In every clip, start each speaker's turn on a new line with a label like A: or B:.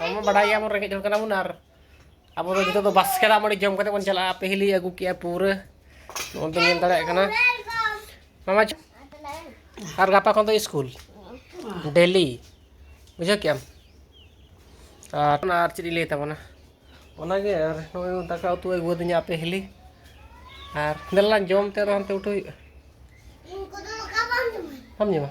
A: ᱟᱵᱚ ᱵᱟᱰᱟᱭᱟ ᱵᱚᱱ ᱨᱮᱸᱜᱮᱡ ᱦᱚᱲ ᱠᱟᱱᱟ ᱵᱚᱱ ᱟᱨ ᱟᱵᱚ ᱫᱚ ᱡᱚᱛᱚ ᱫᱚ ᱵᱟᱥᱠᱮ ᱫᱟᱜ ᱢᱟᱹᱰᱤ ᱡᱚᱢ ᱠᱟᱛᱮ ᱵᱚᱱ ᱪᱟᱞᱟᱜᱼᱟ ᱯᱟᱹᱦᱤᱞᱤ ᱟᱹᱜᱩ ᱠᱮᱜᱼᱟ ᱯᱩᱨᱟᱹ ᱱᱚᱜᱼᱚᱭ ᱵᱚᱱ ᱧᱮᱞ ᱫᱟᱲᱮᱭᱟᱜ ᱠᱟᱱᱟ ᱢᱟᱢᱟ ᱟᱨ ᱜᱟᱯᱟ ᱠᱷᱚᱱ ᱫᱚ ᱥᱠᱩᱞ ᱰᱮᱞᱤ ᱵᱩᱡᱷᱟᱹᱣ ᱠᱮᱜᱼᱟᱢ ᱟᱨ ᱚᱱᱟ ᱟᱨ ᱪᱮᱫ ᱤᱧ ᱞᱟᱹᱭ ᱛᱟᱵᱚᱱᱟ ᱚᱱᱟᱜᱮ ᱟᱨ ᱱᱚᱜᱼᱚᱭ ᱫᱟᱠᱟ ᱩᱛᱩ ᱟᱹᱜᱩ ᱟᱹᱫᱤᱧᱟ ᱟᱯᱮ ᱦᱤᱞᱤ ᱟᱨ ᱫᱮᱞᱟᱝ ᱡᱚᱢ ᱛᱮ ᱟᱫᱚ ᱦᱟᱱᱛᱮ ᱩᱴᱷᱟᱹᱣ ᱦᱩᱭᱩᱜᱼᱟ ᱵᱟᱢ ᱡᱚᱢᱟ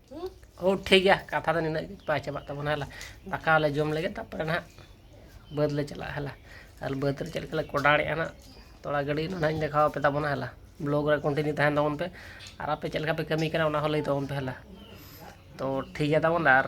A: ᱦᱳ ᱴᱷᱤᱠ ᱜᱮᱭᱟ ᱠᱟᱛᱷᱟ ᱫᱚ ᱱᱤᱱᱟᱹᱜ ᱜᱮ ᱵᱟᱭ ᱪᱟᱵᱟᱜ ᱛᱟᱵᱚᱱᱟ ᱦᱮᱞᱟ ᱫᱟᱠᱟ ᱞᱮ ᱡᱚᱢ ᱞᱮᱜᱮ ᱛᱟᱨᱯᱚᱨᱮ ᱱᱟᱦᱟᱜ ᱵᱟᱹᱫᱽ ᱞᱮ ᱪᱟᱞᱟᱜᱼᱟ ᱦᱮᱞᱟ ᱟᱨ ᱵᱟᱹᱫᱽ ᱨᱮ ᱪᱮᱫ ᱞᱮᱠᱟ ᱞᱮ ᱠᱚᱰᱟᱲᱮᱜᱼᱟ ᱱᱟᱦᱟᱜ ᱛᱚᱲᱟ ᱜᱟᱹᱰᱤ ᱚᱱᱟ ᱱᱟᱦᱟᱜ ᱤᱧ ᱫᱮᱠᱷᱟᱣ ᱟᱯᱮ ᱛᱟᱵᱚᱱᱟ ᱦᱮᱞᱟ ᱵᱞᱚᱜᱽ ᱨᱮ ᱠᱚᱱᱴᱤᱱᱤᱭᱩ ᱛᱟᱦᱮᱱ ᱛᱟᱵᱚᱱ ᱯᱮ ᱟᱨ ᱟᱯᱮ ᱪᱮᱫ ᱞᱮᱠᱟ ᱯᱮ ᱠᱟᱹᱢᱤ ᱠᱟᱱᱟ ᱚᱱᱟ ᱦᱚᱸ ᱞᱟᱹᱭ ᱛᱟᱵᱚᱱ ᱯᱮ ᱦᱮᱞᱟ ᱛᱚ ᱴᱷᱤᱠ ᱜᱮᱭᱟ ᱛᱟᱵᱚᱱ ᱟᱨ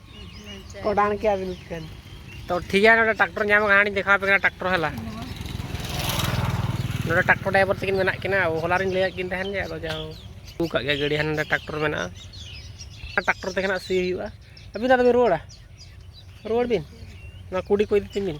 A: ᱚᱰᱟᱱ ᱠᱮᱭᱟ ᱵᱤᱱ ᱠᱷᱟᱱ ᱛᱚ ᱴᱷᱤᱠ ᱜᱮᱭᱟ ᱱᱚᱰᱮ ᱴᱨᱟᱠᱴᱚᱨ ᱧᱟᱢ ᱠᱟᱱᱟ ᱦᱟᱸᱜ ᱫᱮᱠᱷᱟᱣ ᱯᱮ ᱠᱟᱱᱟ ᱴᱨᱟᱠᱴᱚᱨ ᱦᱮᱞᱟ ᱱᱚᱰᱮ ᱴᱨᱟᱠᱴᱚᱨ ᱰᱨᱟᱭᱵᱷᱟᱨ ᱛᱟᱹᱠᱤᱱ ᱢᱮᱱᱟᱜ ᱠᱤᱱᱟ ᱦᱚᱞᱟ ᱨᱤᱧ ᱞᱟᱹᱭᱟᱫ ᱠᱤᱱ ᱛᱟᱦᱮᱱ ᱜᱮ ᱟᱫᱚ ᱡᱟᱦᱳ ᱟᱹᱜᱩ ᱠᱟᱜ ᱜᱮᱭᱟ ᱜᱟᱹᱰᱤ ᱦᱟᱱᱮ ᱴᱨᱟᱠᱴᱚᱨ ᱢᱮᱱᱟᱜᱼᱟ ᱴᱨᱟᱠᱴᱚᱨ ᱛᱮᱜᱮ ᱱᱟᱜ ᱥᱤ ᱦᱩᱭᱩᱜᱼᱟ ᱟᱹᱵᱤᱱ ᱟᱫᱚ ᱵᱤᱱ ᱨᱩᱣᱟᱹᱲᱟ ᱨᱩᱣᱟᱹᱲ ᱵᱤᱱ ᱱᱚᱣᱟ ᱠᱩᱰᱤ ᱠᱚ ᱤᱫᱤ ᱛᱤᱧ ᱵᱤᱱ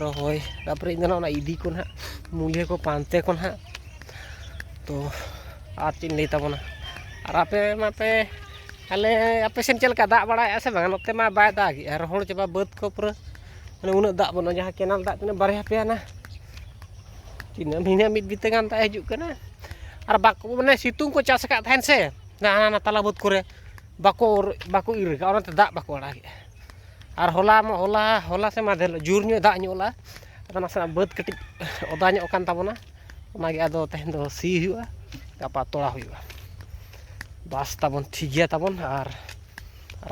A: ᱨᱚᱦᱚᱭ ᱛᱟᱨᱯᱚᱨᱮ ᱤᱧᱫᱚ ᱱᱟᱦᱟᱜ ᱚᱱᱟ ᱤᱫᱤ ᱠᱚ ᱱᱟᱦᱟᱜ ᱢᱩᱞᱭᱟᱹ ᱠᱚ ᱯᱟᱱᱛᱮ ᱠᱚ ᱱᱟᱦᱟᱜ ᱛᱚ ᱟᱨ ᱪᱮᱫ ᱤᱧ ᱞᱟᱹᱭ ᱛᱟᱵᱚᱱᱟ ᱟᱨ ᱟᱯᱮ ᱢᱟᱯᱮ ᱟᱞᱮ ᱟᱯᱮ ᱥᱮᱫ ᱪᱮᱫ ᱞᱮᱠᱟ ᱫᱟᱜ ᱵᱟᱲᱟᱭᱮᱫᱼᱟ ᱥᱮ ᱵᱟᱝ ᱱᱚᱛᱮ ᱢᱟ ᱵᱟᱭ ᱫᱟᱜᱮᱫᱼᱟ ᱨᱚᱦᱚᱲ ᱪᱟᱵᱟ ᱵᱟᱹᱫᱽ ᱠᱚ ᱯᱩᱨᱟᱹ ᱢᱟᱱᱮ ᱩᱱᱟᱹᱜ ᱫᱟᱜ ᱵᱟᱹᱱᱩᱜᱼᱟ ᱡᱟᱦᱟᱸ ᱠᱮᱱᱮᱞ ᱫᱟᱜ ᱛᱤᱱᱟᱹᱜ ᱵᱟᱨᱭᱟ ᱯᱮᱭᱟ ᱱᱟ ᱛᱤᱱᱟᱹᱜ ᱵᱷᱤᱱᱟᱹ ᱢᱤᱫ ᱵᱤᱛᱟᱹ ᱜᱟᱱ ᱫᱟᱜ ᱦᱤᱡᱩᱜ ᱠᱟᱱᱟ ᱟᱨ ᱵᱟᱠᱚ ᱢᱟᱱᱮ ᱥᱤᱛᱩᱝ ᱠᱚ ᱪᱟᱥ ᱟᱠᱟᱫ ᱛᱟᱦᱮᱱ ᱥᱮ ᱦᱟᱱᱟ ᱛᱟᱞᱟ ᱵᱟᱹᱫᱽ ᱠᱚᱨᱮ ᱵᱟᱠᱚ ᱵᱟᱠᱚ ᱤᱨ ᱠᱟᱜᱼᱟ ᱚᱱᱟᱛᱮ ᱫᱟᱜ ᱵᱟᱠᱚ ᱟᱲᱟᱜᱮᱫᱼᱟ ᱟᱨ ᱦᱚᱞᱟ ᱦᱚᱞᱟ ᱦᱚᱞᱟ ᱥᱮ ᱢᱟᱫᱷᱮᱨ ᱦᱤᱞᱳᱜ ᱡᱳᱨ ᱧᱚᱜ ᱫᱟᱜ ᱧᱚᱜ ᱞᱮᱜᱼᱟ ᱟᱫᱚ ᱱᱟᱥᱮᱱᱟᱜ ᱵᱟᱹᱫᱽ ᱠᱟᱹᱴᱤᱡ ᱚᱫᱟ ᱧᱚᱜ ᱟᱠᱟᱱ ᱛᱟᱵᱚᱱᱟ ᱚᱱᱟᱜᱮ ᱟᱫᱚ ᱛᱮᱦᱮᱧ ᱫᱚ ᱥᱤ ᱦᱩᱭᱩᱜᱼᱟ ᱜᱟᱯᱟ ᱛᱚᱞᱟ ᱦᱩᱭᱩᱜᱼᱟ ᱵᱟᱥ ᱛᱟᱵᱚᱱ ᱴᱷᱤᱠ ᱜᱮᱭᱟ ᱛᱟᱵᱚᱱ ᱟᱨ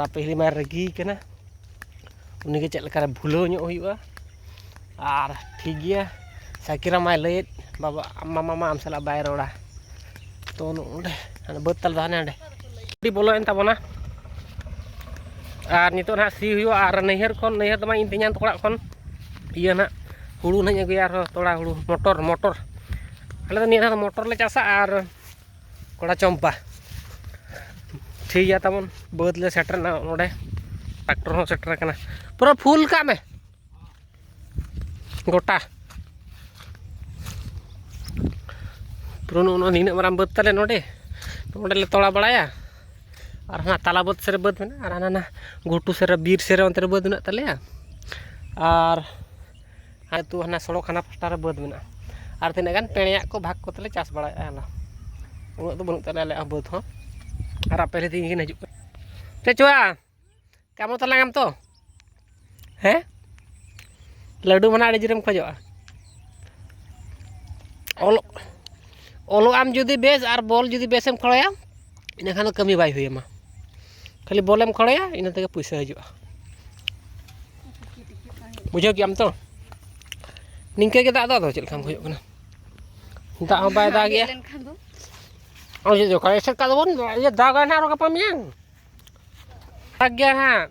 A: ᱟᱯᱮ ᱦᱤᱞᱤ ᱢᱟᱭ ᱨᱟᱹᱜᱤ ᱠᱟᱱᱟ ᱩᱱᱤᱜᱮ ᱪᱮᱫ ᱞᱮᱠᱟᱨᱮ ᱵᱷᱩᱞᱟᱹᱣ ᱧᱚᱜ ᱦᱩᱭᱩᱜᱼᱟ ᱟᱨ ᱴᱷᱤᱠ ᱜᱮᱭᱟ ᱥᱟᱭᱠᱮᱞ ᱨᱮ ᱢᱟᱭ ᱞᱟᱹᱭᱮᱫ ᱵᱟᱵᱟ ᱢᱟᱢᱟ ᱢᱟ ᱟᱢ ᱥᱟᱞᱟᱜ ᱵᱟᱭ ᱨᱚᱲᱟ ᱛᱚ ᱱᱚᱸᱰᱮ ᱵᱟᱹᱫᱽ ᱛᱟᱞᱮ ᱫᱚ ᱦᱟᱱᱮ ᱦᱟᱸᱰᱮ ᱟᱹᱰᱤ ᱵᱚᱞᱚᱭᱮᱱ ᱛᱟᱵᱚᱱᱟ ᱟᱨ ᱱᱤᱛᱚᱜ ᱱᱟᱦᱟᱜ ᱥᱤ ᱦᱩᱭᱩᱜᱼᱟ ᱟᱨ ᱱᱟᱹᱭᱦᱟᱹᱨ ᱠᱷᱚᱱ ᱱᱟᱹᱭᱦᱟᱹᱨ ᱫᱚ ᱵᱟᱝ ᱤᱧ ᱛᱮᱧᱟᱝ ᱛᱟᱠᱚ ᱚᱲᱟᱜ ᱠᱷᱚᱱ ᱤᱭᱟᱹ ᱱᱟᱦᱟᱜ ᱦᱩᱲᱩ ᱱᱟᱦᱟᱜ ᱤᱧ ᱟᱹᱜᱩᱭᱟ ᱟᱨᱦᱚᱸ ᱛᱚᱲᱟ ᱦᱩᱲᱩ ᱢᱚᱴᱚᱨ ᱢᱚᱴᱚᱨ ᱟᱞᱮ ᱫᱚ ᱱᱤᱭᱟᱹ ᱫᱷᱟᱣ ᱫᱚ ᱢᱚᱴᱚᱨ ᱞᱮ ᱪᱟᱥᱟ ᱟᱨ ᱠᱚᱲᱟ ᱪᱚᱢᱯᱟ ᱴᱷᱤᱠ ᱜᱮᱭᱟ ᱛᱟᱵᱚᱱ ᱵᱟᱹᱫᱽ ᱞᱮ ᱥᱮᱴᱮᱨᱱᱟ ᱱᱚᱰᱮ ᱴᱨᱟᱠᱴᱚᱨ ᱦᱚᱸ ᱥᱮᱴᱮᱨ ᱟᱠᱟᱱᱟ ᱯᱩᱨᱟᱹ ᱯᱷᱩᱞ ᱠᱟᱜ ᱢᱮ ᱜᱚᱴᱟ ᱯᱩᱨᱟᱹ ᱱᱚᱜᱼᱚ ᱱᱤᱱᱟᱹᱜ ᱢᱟᱨᱟᱝ ᱵᱟᱹᱫᱽ ᱛᱟᱞᱮ ᱱᱚᱰᱮ ᱱᱚᱰᱮ ᱞᱮ ᱛᱚᱲᱟ ᱵᱟᱲᱟᱭᱟ ᱟᱨ ᱦᱟᱱᱟ ᱛᱟᱞᱟ ᱵᱟᱹᱫᱽ ᱥᱮᱫ ᱨᱮ ᱵᱟᱹᱫᱽ ᱢᱮᱱᱟᱜᱼᱟ ᱟᱨ ᱦᱟᱱᱟ ᱜᱷᱩᱴᱩ ᱥᱮᱫ ᱨᱮ ᱵᱤᱨ ᱥᱮᱫ ᱨᱮ ᱚᱱᱛᱮ ᱨᱮ ᱵᱟᱹᱫᱽ ᱢᱮᱱᱟᱜ ᱛᱟᱞᱮᱭᱟ ᱟᱨ ᱟᱹᱛᱩ ᱦᱟᱱᱟ ᱥᱚᱲᱚᱠ ᱦᱟᱱᱟ ᱯᱟᱥᱴᱟ ᱨᱮ ᱵᱟᱹᱫᱽ ᱢᱮᱱᱟᱜᱼᱟ ᱟᱨ ᱛᱤᱱᱟᱹᱜ ᱜᱟᱱ ᱯᱮᱬᱮᱭᱟᱜ ᱠᱚ ᱵᱷᱟᱜᱽ ᱠᱚᱛᱮ ᱞᱮ ᱪᱟᱥ ᱵᱟᱲᱟᱭᱮᱜᱼᱟ ᱟᱞᱮ ᱩᱱᱟᱹᱜ ᱫᱚ ᱵᱟᱹᱱᱩᱜ ᱛᱟᱞᱮᱭᱟ ᱟᱞᱮᱭᱟᱜ ᱦᱚᱸ ᱵᱟᱹᱫᱽ ᱦᱚᱸ ᱟᱨ ᱟᱯᱮ ᱨᱮᱦᱚᱸ ᱛᱤᱦᱤᱧ ᱠᱤᱱ ᱦᱤᱡᱩᱜ ᱠᱟᱱᱟ ᱪᱮᱫ ᱪᱚᱣᱟ ᱠᱟᱢᱚ ᱛᱟᱞᱟᱝ ᱟᱢ ᱛᱚ ᱦᱮᱸ ᱞᱟᱹᱰᱩ ᱢᱟᱱᱟ ᱟᱹᱰᱤ ᱡᱳᱨᱮᱢ ᱠᱷᱚᱡᱚᱜᱼᱟ ᱚᱞᱚᱜ ᱚᱞᱚᱜ ᱟᱢ ᱡᱩᱫᱤ ᱵᱮᱥ ᱟᱨ ᱵᱚᱞ ᱡᱩᱫᱤ ᱵᱮᱥᱮᱢ ᱠᱷᱮᱞᱟᱭᱟ ᱤᱱᱟᱹᱠᱷᱟᱱ ᱫᱚ ᱠᱟᱹᱢᱤ ᱵᱟᱭ ᱦᱩᱭᱟᱢᱟ ᱠᱷᱟᱹᱞᱤ ᱵᱚᱞᱮᱢ ᱠᱷᱚᱲᱮᱭᱟ ᱤᱱᱟᱹ ᱛᱮᱜᱮ ᱯᱚᱭᱥᱟ ᱦᱤᱡᱩᱜᱼᱟ ᱵᱩᱡᱷᱟᱹᱣ ᱠᱮᱜ ᱟᱢ ᱛᱚ ᱱᱤᱝᱠᱟᱹ ᱜᱮ ᱫᱟᱜ ᱫᱚ ᱟᱫᱚ ᱪᱮᱫ ᱞᱮᱠᱟᱢ ᱠᱷᱚᱡᱚᱜ ᱠᱟᱱᱟ ᱫᱟᱜ ᱦᱚᱸ ᱵᱟᱭ ᱫᱟᱜ ᱜᱮᱭᱟ ᱟᱨ ᱡᱩᱫᱤ ᱚᱠᱟ ᱮᱥᱮᱫ ᱠᱟᱜ ᱫᱚᱵᱚᱱ ᱫᱟᱜᱟᱭ ᱱᱟᱦᱟᱜ ᱟᱨᱚ ᱜᱟᱯᱟ ᱢᱮᱭᱟᱝ ᱫᱟᱜ ᱜᱮᱭᱟ ᱱᱟᱦᱟᱜ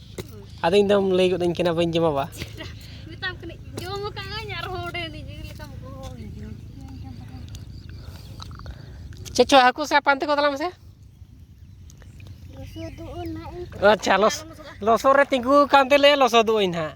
A: ᱟᱫᱚ ᱤᱧ ᱫᱚᱢ ᱞᱟᱹᱭ ᱜᱚᱫ ᱟᱹᱧ ᱠᱟᱱᱟ ᱵᱟᱹᱧ ᱡᱚᱢᱟ ᱵᱟ ᱢᱮᱛᱟᱢ
B: ᱠᱟᱹᱱᱟᱹᱧ ᱡᱚᱢ ᱟᱠᱟᱫᱟᱹᱧ ᱟᱨᱦᱚᱸ ᱚᱸᱰᱮ ᱱᱤᱡᱮ ᱞᱮᱠᱟᱢ
A: ᱜᱚᱦᱚ ᱪᱮᱫ ᱪᱚ ᱦᱟᱹᱠᱩ ᱥᱟᱵ ᱯᱟᱱᱛᱮ ᱠᱚ ᱛᱟᱞᱟᱝ ᱢᱮᱥᱮ ᱟᱪᱪᱷᱟ ᱞᱚᱥᱚᱫ ᱨᱮ ᱛᱤᱸᱜᱩ ᱟᱠᱟᱱ ᱛᱮᱞᱮ ᱞᱚᱥᱚᱫᱚᱜ ᱟᱹᱧ ᱦᱟᱸᱜ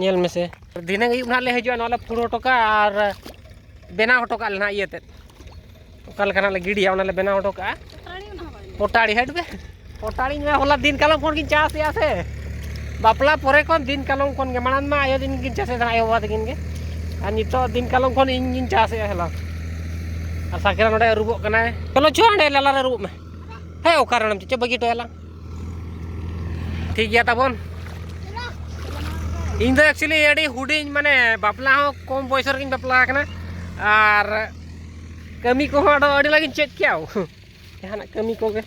A: ᱧᱮᱞ ᱢᱮᱥᱮ ᱫᱷᱤᱱᱟᱹᱝ ᱟᱹᱭᱩᱵ ᱱᱟᱦᱟᱜ ᱞᱮ ᱦᱤᱡᱩᱜᱼᱟ ᱱᱚᱣᱟ ᱞᱮ ᱯᱷᱩᱲ ᱦᱚᱴᱚ ᱠᱟᱜᱼᱟ ᱟᱨ ᱵᱮᱱᱟᱣ ᱦᱚᱴᱚ ᱠᱟᱜᱼᱟ ᱞᱮ ᱱᱟᱦᱟᱜ ᱤᱭᱟᱹᱛᱮ ᱚᱠᱟ ᱞᱮᱠᱟ ᱱᱟᱦᱟᱜ ᱞᱮ ᱜᱤᱰᱤᱭᱟ ᱚᱱᱟ ᱞᱮ ᱵᱮᱱᱟᱣ ᱦᱚᱴᱚ ᱠᱟᱜᱼᱟ ᱯᱚᱴᱟᱲᱤ ᱦᱟᱹᱴ ᱵᱮ ᱯᱚᱴᱟᱲᱤ ᱢᱮ ᱦᱚᱞᱟ ᱫᱤᱱ ᱠᱟᱞᱚᱢ ᱠᱷᱚᱱ ᱜᱤᱧ ᱪᱟᱥᱮᱜᱼᱟ ᱥᱮ ᱵᱟᱯᱞᱟ ᱯᱚᱨᱮ ᱠᱷᱚᱱ ᱫᱤᱱ ᱠᱟᱞᱚᱢ ᱠᱷᱚᱱ ᱜᱮ ᱢᱟᱲᱟᱝ ᱢᱟ ᱟᱭᱳ ᱫᱤᱱ ᱜᱤᱧ ᱪᱟᱥᱮᱫ ᱛᱟᱦᱮᱱᱟ ᱟᱭᱳ ᱵᱟᱵᱟ ᱛᱟᱹᱠᱤᱱ ᱜᱮ ᱟᱨ ᱱᱤᱛᱚᱜ ᱫᱤᱱ ᱠᱟᱞᱚᱢ ᱠᱷᱚᱱ ᱤᱧ ᱜᱤᱧ ᱪᱟᱥᱮᱜᱼᱟ ᱦᱚᱞᱟ ᱟᱨ ᱥᱟᱠᱨᱟ ᱱᱚᱰᱮ ᱟᱹᱨᱩᱵᱚᱜ ᱠᱟᱱᱟᱭ ᱪᱚᱞᱚ ᱪᱚ ᱚᱸᱰᱮ ᱞᱟᱞᱟᱨᱮ ᱟᱹᱨᱩᱵᱚᱜ ᱢᱮ ᱦᱮᱸ ᱚᱠᱟᱨᱮ ᱚᱱᱟᱢ ᱪᱮᱫ ᱪᱚ ᱵᱟᱹᱜᱤ ᱦᱚᱴᱚᱭᱟᱞᱟᱝ ᱴᱷᱤᱠ ᱜᱮᱭᱟ ᱛᱟᱵᱚᱱ ᱤᱧ ᱫᱚ ᱮᱠᱪᱩᱭᱮᱞᱤ ᱟᱹᱰᱤ ᱦᱩᱰᱤᱧ ᱢᱟᱱᱮ ᱵᱟᱯᱞᱟ ᱦᱚᱸ ᱠᱚᱢ ᱵᱚᱭᱚᱥ ᱨᱮᱜᱤᱧ ᱵᱟᱯᱞᱟ ᱟᱠᱟᱱᱟ ᱟᱨ ᱠᱟᱹᱢᱤ ᱠᱚᱦᱚᱸ ᱟᱫᱚ ᱟᱹᱰᱤ ᱞᱟᱜᱤᱧ ᱪᱮᱫ ᱠᱮᱭᱟ ᱡᱟᱦᱟᱱᱟᱜ ᱠᱟᱹᱢᱤ ᱠᱚᱜᱮ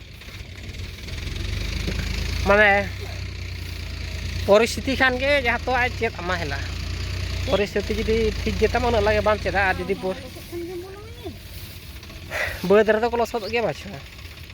A: ᱢᱟᱱᱮ ᱯᱚᱨᱤᱥᱛᱷᱤᱛᱤ ᱠᱷᱟᱱ ᱜᱮ ᱡᱟᱦᱟᱸ ᱛᱚ ᱟᱡ ᱪᱮᱫ ᱟᱢᱟ ᱦᱮᱞᱟ ᱯᱚᱨᱤᱥᱛᱷᱤᱛᱤ ᱡᱩᱫᱤ ᱴᱷᱤᱠ ᱜᱮᱛᱟᱢᱟ ᱩᱱᱟᱹᱜ ᱞᱟᱜᱮ ᱵᱟᱢ ᱪᱮᱫᱟ ᱟᱨ ᱡᱩᱫᱤ ᱵᱟᱹᱫᱽ ᱨᱮᱫᱚ ᱠᱚ ᱞᱚᱥᱚᱫᱚᱜ ᱜᱮᱭᱟ ᱵᱟᱪᱷᱟ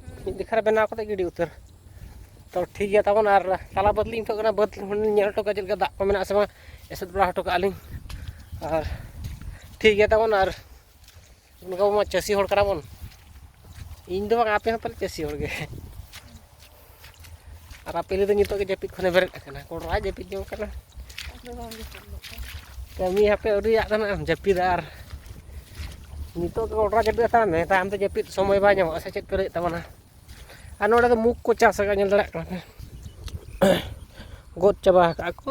A: ᱦᱩᱸ ᱢᱤᱫ ᱫᱮᱠᱷᱟ ᱨᱮ ᱵᱮᱱᱟᱣ ᱠᱟᱛᱮ ᱜᱤᱰᱤ ᱩᱛᱟᱹᱨ ᱛᱚ ᱴᱷᱤᱠ ᱜᱮᱭᱟ ᱛᱟᱵᱚᱱ ᱟᱨ ᱛᱟᱞᱟ ᱵᱟᱹᱫᱽ ᱞᱤᱧ ᱯᱷᱳᱱ ᱠᱟᱱᱟ ᱵᱟᱹᱫᱽ ᱧᱮᱞ ᱦᱚᱴᱚ ᱠᱟᱜᱼᱟ ᱪᱮᱫ ᱞᱮᱠᱟ ᱫᱟᱜ ᱠᱚ ᱢᱮᱱᱟᱜᱼᱟ ᱥᱮ ᱵᱟᱝ ᱮᱥᱮᱫ ᱵᱟᱲᱟ ᱦᱚᱴᱚ ᱠᱟᱜᱼᱟ ᱞᱤᱧ ᱟᱨ ᱴᱷᱤᱠ ᱜᱮᱭᱟ ᱛᱟᱵᱚᱱ ᱟᱨ ᱚᱱᱠᱟ ᱢᱟ ᱪᱟᱹᱥᱤ ᱦᱚᱲ ᱠᱟᱱᱟ ᱵᱚᱱ ᱤᱧ ᱫᱚ ᱵᱟᱝ ᱟᱯᱮ ᱦᱚᱸ ᱯᱟᱞᱮ ᱪᱟᱹᱥᱤ ᱦᱚᱲ ᱜᱮ ᱟᱨ ᱟᱯᱮᱞᱤ ᱫᱚ ᱱᱤᱛᱚᱜ ᱜᱮ ᱡᱟᱹᱯᱤᱫ ᱠᱷᱚᱱᱮ ᱵᱮᱨᱮᱫ ᱟᱠᱟᱱᱟ ᱠᱚᱲᱟ ᱡᱟᱹᱯᱤᱫ ᱡᱚᱝ ᱠᱟᱱᱟ ᱠᱟᱹᱢᱤ ᱦᱟᱯᱮ ᱟᱹᱣᱨᱤᱭᱟᱜ ᱠᱟᱱᱟ ᱟᱢ ᱡᱟᱹᱯᱤᱫ ᱟᱨ ᱱᱤᱛᱚᱜ ᱜᱮ ᱠᱚᱲᱟ ᱡᱟᱹᱯᱤᱫ ᱦᱟᱛᱟᱣ ᱢᱮ ᱛᱟᱭᱚᱢ ᱛᱮ ᱡᱟᱹᱯᱤᱫ ᱥᱚᱢᱚᱭ ᱵᱟᱭ ᱧᱟᱢᱚᱜᱼᱟ ᱥᱮ ᱪᱮᱫ ᱯᱮ ᱞᱟᱹᱭᱮᱫ ᱛᱟᱵᱚᱱᱟ ᱟᱨ ᱱᱚᱰᱮ ᱫᱚ ᱢᱩᱠ ᱠᱚ ᱪᱟᱥ ᱟᱠᱟᱫ ᱧᱮᱞ ᱫᱟᱲᱮᱭᱟᱜ ᱠᱟᱱᱟ ᱯᱮ ᱜᱚᱫ ᱪᱟᱵᱟ ᱟᱠᱟᱫ ᱠᱚ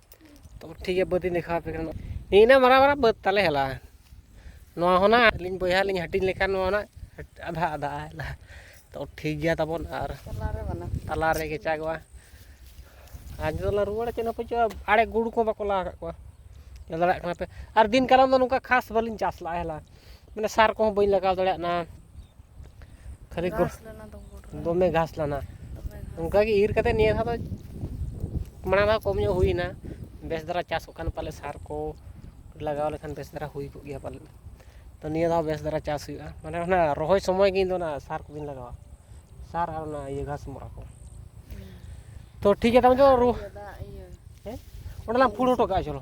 A: ᱛᱚ ᱴᱷᱤᱠ ᱜᱮᱭᱟ ᱵᱟᱹᱫᱤᱧ ᱫᱮᱠᱷᱟᱣ ᱟᱯᱮ ᱠᱟᱱᱟ ᱤᱱᱟᱹ ᱢᱟᱨᱟᱝ ᱢᱟᱨᱟᱝ ᱵᱟᱹᱫᱽ ᱛᱟᱞᱮ ᱦᱮᱞᱟ ᱱᱚᱣᱟ ᱦᱚᱸ ᱱᱟᱜ ᱟᱹᱞᱤᱧ ᱵᱚᱭᱦᱟ ᱞᱤᱧ ᱦᱟᱹᱴᱤᱧ ᱞᱮᱠᱷᱟᱱ ᱱᱚᱣᱟ ᱱᱟᱜ ᱟᱫᱷᱟ ᱟᱫᱷᱟ ᱦᱮᱞᱟ ᱛᱚ ᱴᱷᱤᱠ ᱜᱮᱭᱟ ᱛᱟᱵᱚᱱ ᱟᱨ ᱛᱟᱞᱟ ᱨᱮ ᱠᱮᱪᱟᱜᱚᱜᱼᱟ ᱟᱨ ᱱᱤᱛᱚᱜ ᱞᱮ ᱨᱩᱣᱟᱹᱲᱟ ᱪᱮᱫ ᱦᱚᱸ ᱯᱟᱹᱪᱩᱜᱼᱟ ᱟᱲᱮ ᱜᱩᱰᱩ ᱠᱚ ᱵᱟᱠᱚ ᱞᱟ ᱟᱠᱟᱫ ᱠᱚᱣᱟ ᱧᱮᱞ ᱫᱟᱲᱮᱭᱟᱜ ᱠᱟᱱᱟ ᱯᱮ ᱟᱨ ᱫᱤᱱ ᱠᱟᱞᱚᱢ ᱫᱚ ᱱᱚᱝᱠᱟ ᱠᱷᱟᱥ ᱵᱟᱹᱞᱤᱧ ᱪᱟᱥ ᱞᱟᱜᱼᱟ ᱦᱮᱞᱟ ᱢᱟᱱᱮ ᱥᱟᱨ ᱠᱚᱦᱚᱸ ᱵᱟᱹᱧ ᱞᱟᱜᱟᱣ ᱫᱟᱲᱮᱭᱟᱜ ᱠᱟᱱᱟ ᱠᱷᱟᱹᱞᱤ ᱫᱚᱢᱮ ᱜᱷᱟᱥ ᱞᱮᱱᱟ ᱚᱱᱠᱟᱜᱮ ᱤᱨ ᱠᱟᱛᱮ ᱱᱤᱭᱟᱹ ᱫᱷᱟᱣ ᱫᱚ ᱢᱟᱲᱟᱝ ᱫᱷᱟᱣ ᱠᱚᱢ ᱧᱚᱜ ᱦᱩᱭᱱᱟ ᱵᱮᱥ ᱫᱷᱟᱨᱟ ᱪᱟᱥᱚᱜ ᱠᱟᱱ ᱯᱟᱞᱮ ᱥᱟᱨ ᱠᱚ ᱞᱟᱜᱟᱣ ᱞᱮᱠᱷᱟᱱ ᱵᱮᱥ ᱫᱷᱟᱨᱟ ᱦᱩᱭ ᱠᱚᱜ ᱜᱮᱭᱟ ᱯᱟᱞᱮᱫ ᱛᱚ ᱱᱤᱭᱟᱹ ᱫᱷᱟᱣ ᱵᱮᱥ ᱫᱷᱟᱨᱟ ᱪᱟᱥ ᱦᱩᱭᱩᱜᱼᱟ ᱢᱟᱱᱮ ᱚᱱᱟ ᱨᱚᱦᱚᱭ ᱥᱚᱢᱚᱭ ᱜᱮ ᱤᱧ ᱫᱚ ᱚᱱᱟ ᱥᱟᱨ ᱠᱚᱜᱮᱧ ᱞᱟᱜᱟᱣᱟ ᱥᱟᱨ ᱟᱨ ᱚᱱᱟ ᱤᱭᱟᱹ ᱜᱷᱟᱥ ᱢᱚᱨᱟ ᱠᱚ ᱛᱚ ᱴᱷᱤᱠ ᱜᱮᱭᱟ ᱛᱟᱦᱚᱞᱮ ᱫᱚ ᱨᱩ ᱦᱮᱸ ᱚᱸᱰᱮ ᱞᱟᱝ ᱯᱷᱩᱲ ᱦᱚᱴᱚ ᱠᱟᱜᱼᱟ ᱪᱚᱞᱚ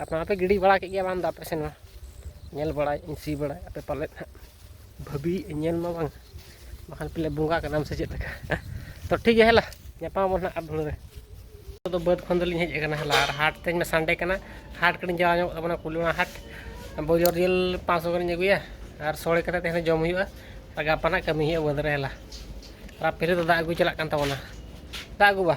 A: ᱟᱯᱮ ᱢᱟᱯᱮ ᱜᱤᱰᱤ ᱵᱟᱲᱟ ᱠᱮᱫ ᱜᱮᱭᱟ ᱵᱟᱝ ᱫᱚ ᱟᱯᱮ ᱥᱮᱱ ᱢᱟ ᱧᱮᱞ ᱵᱟᱲᱟᱭᱮᱫ ᱟᱹᱧ ᱥᱤ ᱵᱟᱲᱟᱭ ᱟᱯᱮ ᱯᱟᱞᱮᱫ ᱦᱟᱸᱜ ᱵᱷᱟᱹᱵᱤᱭᱮᱫ ᱟᱹᱧ ᱧᱮᱞ ᱢᱟ ᱵᱟᱝ ᱵᱟᱠᱷᱟᱱ ᱯᱟᱞᱮ ᱵᱚᱸᱜᱟ ᱠᱟᱱᱟᱢ ᱥᱮ ᱪᱮᱫ ᱞᱮᱠᱟ ᱛᱚ ᱴᱷᱤᱠ ᱜᱮᱭᱟ ᱦᱮᱞᱟ ᱧᱟᱯᱟᱢ ᱟᱵᱚᱱ ᱦᱟᱸᱜ ᱟᱨ ᱫᱷᱩᱲᱟᱹ ᱨᱮ ᱫᱚ ᱵᱟᱹᱫᱽ ᱠᱷᱚᱱ ᱫᱚᱞᱤᱧ ᱦᱮᱡ ᱟᱠᱟᱱᱟ ᱦᱮᱞᱟ ᱟᱨ ᱦᱟᱴ ᱛᱮᱦᱮᱧ ᱢᱟ ᱥᱟᱱᱰᱮ ᱠᱟᱱᱟ ᱦᱟᱴ ᱠᱟᱹᱴᱤᱡ ᱡᱟᱣ ᱧᱚᱜ ᱛᱟᱵᱚᱱᱟ ᱠᱩᱞᱤᱢᱟ ᱦᱟᱴ ᱵᱚᱡᱚᱨ ᱡᱤᱞ ᱯᱟᱸᱪᱥᱚ ᱜᱟᱱᱤᱧ ᱟᱹᱜᱩᱭᱟ ᱟᱨ ᱥᱚᱲᱮ ᱠᱟᱛᱮ ᱛᱮᱦᱮᱧ ᱡᱚᱢ ᱦᱩᱭᱩᱜᱼᱟ ᱟᱨ ᱜᱟᱯᱟ ᱱᱟᱜ ᱠᱟᱹᱢᱤ ᱦᱩᱭᱩᱜᱼᱟ ᱵᱟᱹᱫᱽ ᱨᱮ ᱦᱮᱞᱟ ᱟᱨ ᱯᱷᱤᱨᱤ ᱫᱚ ᱫᱟᱜ ᱟᱹᱜᱩ ᱪᱟᱞᱟᱜ ᱠᱟᱱ ᱛᱟᱵᱚᱱᱟ ᱫᱟᱜ ᱟᱹᱜᱩ ᱵᱟ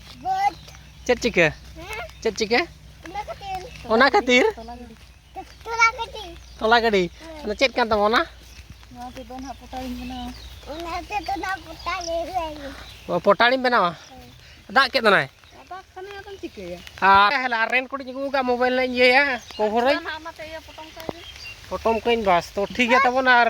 A: ᱪᱮᱫ ᱪᱤᱠᱟᱹ ᱪᱮᱫ ᱪᱤᱠᱟᱹ ᱚᱱᱟ ᱠᱷᱟᱹᱛᱤᱨ ᱛᱚᱞᱟ ᱜᱟᱹᱰᱤ ᱚᱱᱟ ᱪᱮᱫ ᱠᱟᱱ ᱛᱟᱢᱟ ᱚᱱᱟ ᱯᱚᱴᱟᱲᱤᱢ ᱵᱮᱱᱟᱣᱟ ᱫᱟᱜ ᱠᱮᱫ ᱫᱚᱱᱟᱭ ᱟᱨ ᱦᱮᱞᱟ ᱨᱮᱱ ᱠᱚᱴᱤᱧ ᱟᱹᱜᱩ ᱠᱟᱜ ᱢᱳᱵᱟᱭᱤᱞ ᱨᱮᱧ ᱤᱭᱟᱹᱭᱟ ᱠᱚᱵᱷᱚᱨᱟᱹᱧ ᱯᱚᱴᱚᱢ ᱠᱟᱹᱧ ᱵᱟᱥ ᱛᱚ ᱴᱷᱤᱠ ᱜᱮᱭᱟ ᱛᱟᱵᱚᱱ ᱟᱨ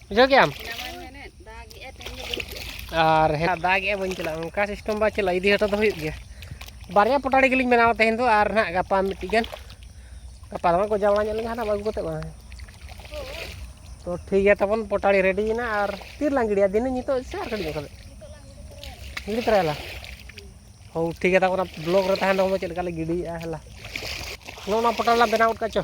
A: ᱵᱩᱡᱷᱟᱹᱣ ᱠᱮᱜ ᱟᱢ ᱟᱨ ᱦᱮᱸ ᱫᱟᱜ ᱮᱜᱼᱟ ᱵᱟᱹᱧ ᱪᱟᱞᱟᱜᱼᱟ ᱚᱱᱠᱟ ᱥᱤᱥᱴᱮᱢ ᱵᱟᱭ ᱪᱟᱞᱟᱜᱼᱟ ᱤᱫᱤ ᱦᱚᱴᱚ ᱫᱚ ᱦᱩᱭᱩᱜ ᱜᱮᱭᱟ ᱵᱟᱨᱭᱟ ᱯᱚᱴᱟᱲᱤ ᱜᱮᱞᱤᱧ ᱵᱮᱱᱟᱣᱟ ᱛᱮᱦᱮᱧ ᱫᱚ ᱟᱨ ᱱᱟᱦᱟᱜ ᱜᱟᱯᱟ ᱢᱤᱫᱴᱤᱡ ᱜᱟᱱ ᱜᱟᱯᱟ ᱫᱚ ᱜᱚᱡᱟ ᱵᱟᱲᱟ ᱧᱚᱜ ᱞᱮᱱ ᱦᱟᱸᱜ ᱟᱹᱜᱩ ᱠᱟᱛᱮᱫ ᱵᱟᱝ ᱛᱚ ᱴᱷᱤᱠ ᱜᱮᱭᱟ ᱛᱟᱵᱚᱱ ᱯᱚᱴᱟᱲᱤ ᱨᱮᱰᱤᱭᱮᱱᱟ ᱟᱨ ᱛᱤᱨ ᱞᱟᱝ ᱜᱤᱰᱤᱭᱟ ᱫᱤᱱᱟᱹ ᱱᱤᱛᱚᱜ ᱥᱮ ᱟᱨ ᱠᱟᱹᱴᱤᱡ ᱧᱚᱜ ᱠᱟᱛᱮᱫ ᱜᱤᱰᱤ ᱛᱚᱨᱟᱭᱟᱞᱟ ᱦᱳ ᱴᱷᱤᱠ ᱜᱮᱭᱟ ᱛᱟᱵᱚᱱ ᱵᱞᱚᱜ ᱨᱮ ᱛᱟᱦᱮᱱ ᱛᱟᱵᱚᱱ ᱪᱮᱫ ᱞᱮᱠᱟ ᱞᱮ ᱜᱤᱰᱤᱭᱮᱜᱼᱟ ᱦᱮᱞᱟ ᱱᱚᱜᱼᱚ ᱱᱚᱣᱟ ᱯᱚᱴᱟᱲ ᱞᱟᱝ ᱵᱮᱱᱟᱣ ᱜᱚᱫ ᱠᱟᱜᱼᱟ ᱪᱚ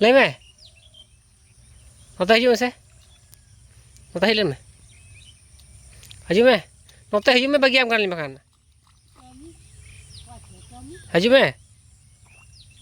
A: ᱞᱟᱹᱭ ᱢᱮ ᱱᱚᱛᱮ ᱦᱤᱡᱩᱜ ᱢᱮᱥᱮ ᱱᱚᱛᱮ ᱦᱮᱡ ᱞᱮᱱ ᱢᱮ ᱦᱤᱡᱩᱜ ᱢᱮ ᱱᱚᱛᱮ ᱦᱤᱡᱩᱜ ᱢᱮ ᱵᱟᱹᱜᱤᱭᱟᱢ ᱠᱟᱱᱟᱞᱤᱧ ᱵᱟᱠᱷᱟᱱ ᱦᱤᱡᱩᱜ ᱢᱮ